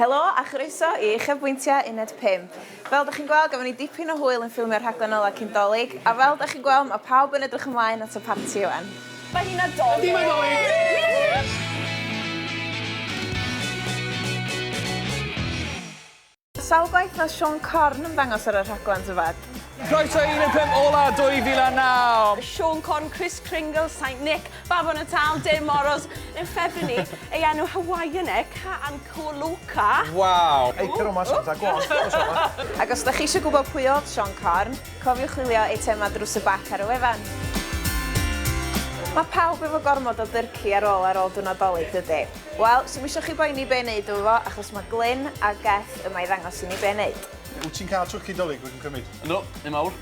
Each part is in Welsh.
Helo a chroeso i Uchafbwyntiau Uned 5. Fel da chi'n gweld, gafon ni dipyn o hwyl yn ffilmio'r rhaglen ola cyn Dolig, a fel da chi'n gweld, mae pawb yn edrych ymlaen at y parti ŵan. Mae hi Nadolig! Yndi, mae Dolig! Sawl gwaith mae Siôn Corn ymddangos ar y rhaglen Dyfed? Croeso i Uned 5 ola 2009! Siôn Corn, Chris Kringle, Saint Nick, Bafo Natal, Dei Moros, yn ffefrynu ei enw Hawaiian e, Ka'an Ko'oloka. Waw! Eithr o masgota gwallt o sona. Ac os da chi isio gwybod pwy oedd Siôn Corn, cofiwch chwilio eitemau drws y bac ar y wefan. Mae pawb efo gormod o dyrci ar ôl ar ôl dy Nadolig dydy? Wel, swm isio chi boeni be neud efo fo achos mae Glyn a Geth yma i ddangos i ni be neud. Wyt ti'n cael twrci Dolig rwy'n cymryd? Yndw, un mawr.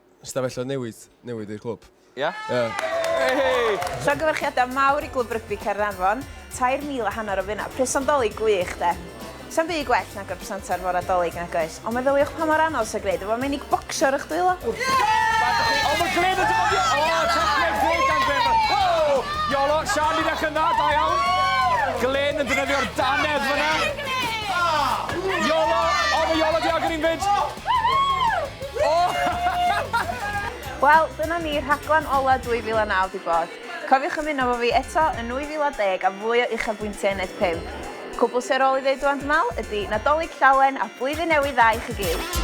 Stafelloedd newydd, newydd i'r clwb. Ia? Ia. Hei! Llongyfarchiadau mawr i Glwb Rygbi Caernarfon, 3,000 a hanner o finnau, presant Dolig gwych, de! Sa'm byd gwell nag yr presantau'r fore Dolig, nag oes? Ond meddyliwch pa mor anodd sy'n gwneud efo menig bocsio ar eich dwylo. O, mae Glyn yn dyfoddio! O, tacled gwych gan Glyn! O! Iolo, Sian, ni'n eich yna, da iawn! Glyn yn defnyddio'r danedd fyna. Iolo! O, mae Iolo di agor un fyd! Wel, dyna ni, rhaglen ola 2009 'di bod. Cofiwch ymuno efo fi eto yn 2010 am fwy o uchafbwyntiau yn Neud Pump. Cwbl sy ar ôl 'i ddeud ŵan dw me'l ydi, Nadolig Llawen a Blwyddyn Newydd Dda i chi gyd!